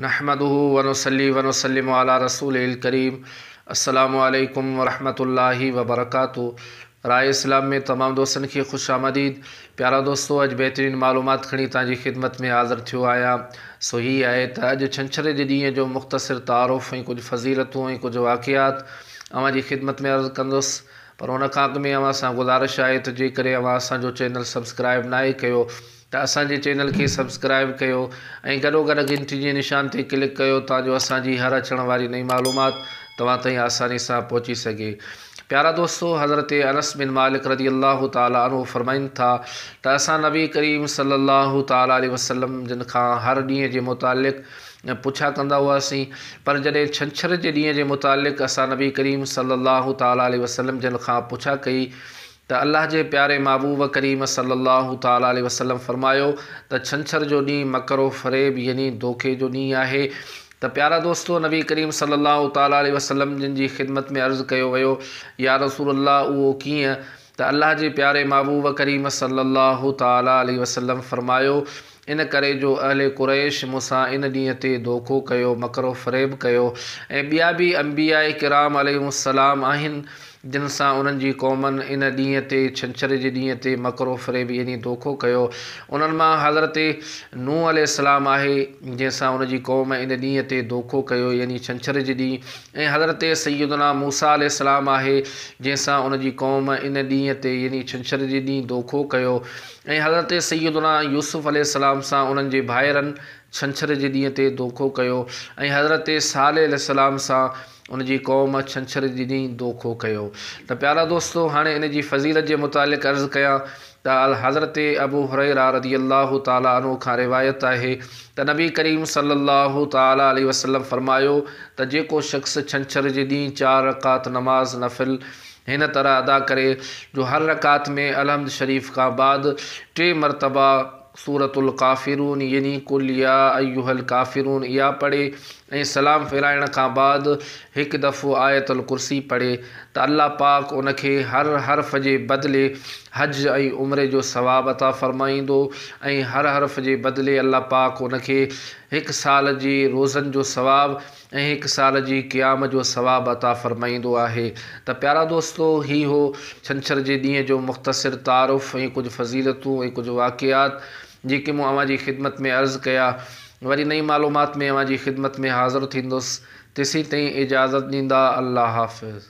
نحمده ونصلي ونسلم علي رسوله الڪريم السلام عليڪم ورحمة الله وبرڪاته راء اسلام ۾ تمام دوستن کي خوش آمديد پيارا دوستو اڄ بهترين معلومات کڻي توهان جي خدمت ۾ حاضر ٿيو آهيان سو هي آهي ته اڄ ڇنڇر جي ڏينهن جو مختصر تعارف ۽ ڪجهه فضيلتون ۽ ڪجهه واقعات اوهان جي خدمت ۾ عرض ڪندس پر ان کان اڳ ۾ اوهان سان گذارش آهي ته جيڪڏهن اوهان اسان جو چينل سبسڪرائب ناهي ڪيو ته اسان جي چينل کي سبسڪرائيب ڪيو ۽ گڏو گڏ گهنٽي جي نشان تي ڪلڪ ڪيو تان جو اسان جي هر اچڻ واري نئين معلومات توهان تائين آساني سان پهچي سگهي پيارا دوستو حضرت انس بن مالڪ رضي الله تعالٰي عنه فرمائن ٿا ته اسان نبي ڪريم صلي الله تعالٰي عليه وسلم جن کان هر ڏينهن جي متعلق پڇا ڪندا هئاسين پر جڏهن ڇنڇر جي ڏينهن جي متعلق اسان نبي ڪريم صلي الله تعالٰي عليه وسلم جن کان پڇا ڪئي ته الله جي پياري محبوب ڪريم صلّي الله تعالٰي عليه وسلّم فرمايو ته ڇنڇر جو ڏينهن مڪر و فريب يعني ڌوڪي جو ڏينهن آهي ته پيارا دوستو نبي ڪريم صلّي الله تعالٰي عليه وسلّم جن جي خدمت ۾ عرض ڪيو ويو يا رسول الله اهو ڪيئن ته الله جي پياري محبوب ڪريم صلّي الله تعالٰي عليه وسلّم فرمايو ان ڪري جو اهل قريش مون سان ان ڏينهن تي دوکو ڪيو، مڪر و فريب ڪيو ۽ ٻيا به انبياء ڪرام عليهم السلام آهن جن سان انهن جي قومن ان ڏينهن تي، ڇنڇر جي ڏينهن تي، مڪر و فريب يعني دوکو ڪيو. انهن مان حضرت نوح عليه السلام آهي جنهن سان ان جي قوم ان ڏينهن تي دوکو ڪيو يعني ڇنڇر جي ڏينهن ۽ حضرت سيدنا موسيٰ عليه السلام آهي جنهن سان ان جي قوم ان ڏينهن تي يعني ڇنڇر جي ڏينهن دوکو ڪيو. ۽ حضرت سيدنا يوسف عليه السلام سان انهن جي ڀائرن ڇنڇر جي ڏينهن تي دوکو ڪيو ۽ حضرت صالح عليه السلام سان ان جي قوم ڇنڇر جي ڏينهن دوکو ڪيو ته پيارا دوستو هاڻي ان جي فضيلت جي متعلق عرض ڪيان ته حضرت ابو هريره رضي الله تعالٰي عنه کان روايت آهي ته نبي ڪريم صلي الله تعالٰي عليه وسلم فرمايو ته جيڪو شخص ڇنڇر جي ڏينهن چار رڪعت نماز نفل هن طرح ادا ڪري جو هر رڪعت ۾ الحمد شريف کان بعد ٽي مرتبه سورة الڪافرون يعني قل يا ايها الڪافرون اها پڙهي ۽ سلام ڦيرائڻ کان بعد هڪ دفعو آيت الڪرسي پڙهي ته الله پاڪ ان کي هر حرف جي بدلي حج ۽ عمري جو ثواب عطا فرمائيندو ۽ هر حرف جي بدلي الله پاڪ ان کي هڪ سال جي روزن جو ثواب ۽ هڪ سال جي قيام جو ثواب عطا فرمائيندو آهي ته پيارا دوستو هي هو ڇنڇر جي ڏينهن جو مختصر تعارف ۽ ڪجهه فضيلتون ۽ ڪجهه واقعات جيڪي مون اوهان جي خدمت ۾ عرض ڪيا وري نئين معلومات ۾ اوهان جي خدمت ۾ حاضر ٿيندس تيسين تائين اجازت ڏيندا الله حافظ.